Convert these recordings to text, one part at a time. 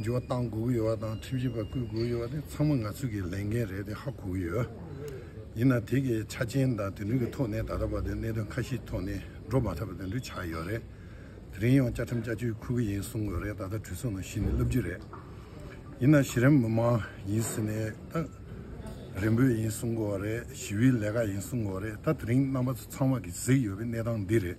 འགྱུར་བ་གཏང་དགོས་ཀྱི་ཡོད་པ་དང་ཁྲིམས་ཞིབ་པ་བསྐོས་དགོས་ཀྱི་ཡོད་པ་དེ་ཚང་མ་ང་ཚོས་ཀྱི་ལས་འགན་རེད་དེ་ཧ་གོ་གི་ཡོད། ཡིན་ནའང་དེ་གི་ཆ་རྐྱེན་དང་དེ་འདྲུས་ཀྱི་ཐོག་ནས་ད་ལྟ་བར་དུ་གནད་དོན་ཁ་ཤས་ཐོག་ནས་འགྲོ་མ་ཐག་པ་དེ་འདྲུས་ཆགས་ཡོད་རེད། དེ་རིང་ཡང་བཅའ་ཁྲིམས་བཅའ་བཅོས་འཁུར་གྱི་ཡིན་གསུང་དགོས་རེད་ད་ལྟ་གྲོས་ཚོགས་ནང་གཞི་ནས་ལབ་རྒྱུ་རེད། ཡིན་ནའང་གཞི་རིམ་མི་མང་ཡིན་ཟེར་ནས་ད་རེན་པོད་ཡིན་གསུང་དགོས་རེད་ཞི་བའི་ལས་ཀ་ཡིན་གསུང་དགོས་རེད་ད་དེ་རིང་རྣམ་པ་ཚོ་ཚང་མ་གི་གཟིགས་ཡོད་པའི་གནས་སྟངས་འདི་རེད།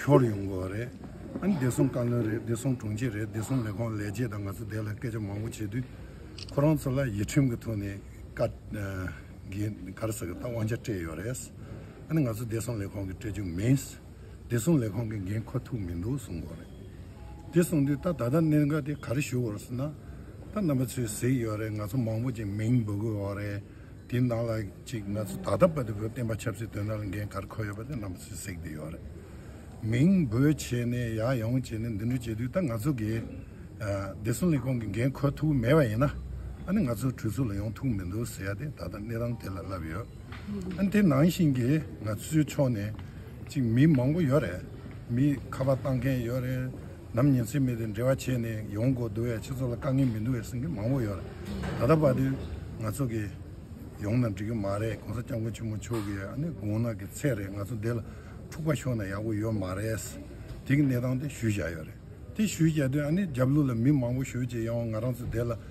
ཤོར་ཡོང་གི་རེད། བདེ་སྲུང་བཀའ་བློན་རེད་བདེ་སྲུང་དྲུང་ཆེ་རེད་བདེ་སྲུང་ལས་ཁུངས་ལས་བྱེད་དང་ང་ཚོ་བདེ་ལ་སྐད་ཆ་མང་པོ་བྱེད་དུས། ཁོ་རང་ཚོ་ལ་ཡིད་ཁྲིམས་ཀྱི་ཐོག་ནས་བཀའ་གར་ཟེར་གི་ད་དབང་ཆ་སྤྲད་ཡོད་རེད། ང་ཚོ་བདེ་སྲུང་ལས་ཁུངས་ཀྱི་སྤྲད་རྒྱུ་མིན། བདེ་སྲུང་ལས་ཁུངས་ཀྱི་འགན་ཁོ་ཐུག་མི་འདུག་གསུང་གི་རེད། དེ་གསུང་དུས་ད་ད་ལྟ་གནད་འགག་དེ་ག་རེ་ཞུ་དགོས་རེད་ཟེར་ན། ད་རྣམ་པ་ཚོས་གཟིགས་ཡོད་རེད་ང་ཚོ་མང་པོ་ཅིག་མིང་འབོད་དགོས་རེད། དེའི་ནང་ལ་གཅིག་ང་ཚོ་ད་ལྟ་བར་དུ་བོད་བསྟན་པ་ཆབ་སྲིད་དོན་དག་ལ་འགན་ཁར་འཁོད་ཡོད་པ་དེ་རྣམས་སུས་གཟིགས་བསྡད་ཡོད་རེད། མིང་འབོད་བྱས་ནས་ཡ་ཡོང་བྱས་ནས་འདི་འདྲ་བྱས་དུས་ད་ང་ཚོ་གིས་བདེ་སྲུང་ལས་ཁུངས་ཀྱི་འགན་འཁོད་ཐུབ་མེད་པ་ཡིན་ན་ཨ་ནི་ང་ཚོ་གྲོས་ཚུགས་ལ་ཡོང་ཐུབ་མི་འདུག་ཟེར་ཡ་དེ་ད་ལྟ་གནས་སྟངས་དེ་ལ་ལབ་ཡོད། ཨ་ནི་དེ་ནང་བཞིན་གྱི་ང་ཚོའི་ཕྱོགས་ནས་གཅིག་མི་མང་པོ་ཡོད་རེད། མི་ཁ་པར་བཏང་མཁན་ཡོད་རེད། ནམ་ཉིན་སྲིད་མི་དེ་འབྲེལ་བ་བྱས་ནས་ཡོང་དགོས་འདུག་བས་ཁྱེད་ཚོ་ལ་དཀའ་ངལ་མི་འདུག་བས་སེམས་ཁེར་མང་བོ་ཡོད། ད་ལྟ་བར་དུ་ང་ཚོ་གི་ཡོང་ན་འགྲིག་གི་མ་རེད་གོང་ས་སྐྱབས་མགོན་ཆེན་མོ་མཆོག་གི་ཨ་ནེ་དགུང་ན་གི་ཚད་རེད་ང་ཚོ་འདི་ལ་འཁྲུག་པ་ཤོར་ན་ཡག་པོ་ཡོད་མ་རེད། དེ་གི་གནས་སྟངས་དེ་ཞུས་བཞག་ཡོད་རེད་དེ་ཞུས་བཞག་དུས་ཨ་ནེ་རྒྱབ་ལུགས་ལ་མི་མང་བོ་ཞོལ་ཅེ་ཡང་ང་རང་ཚོ་འདི་ལ།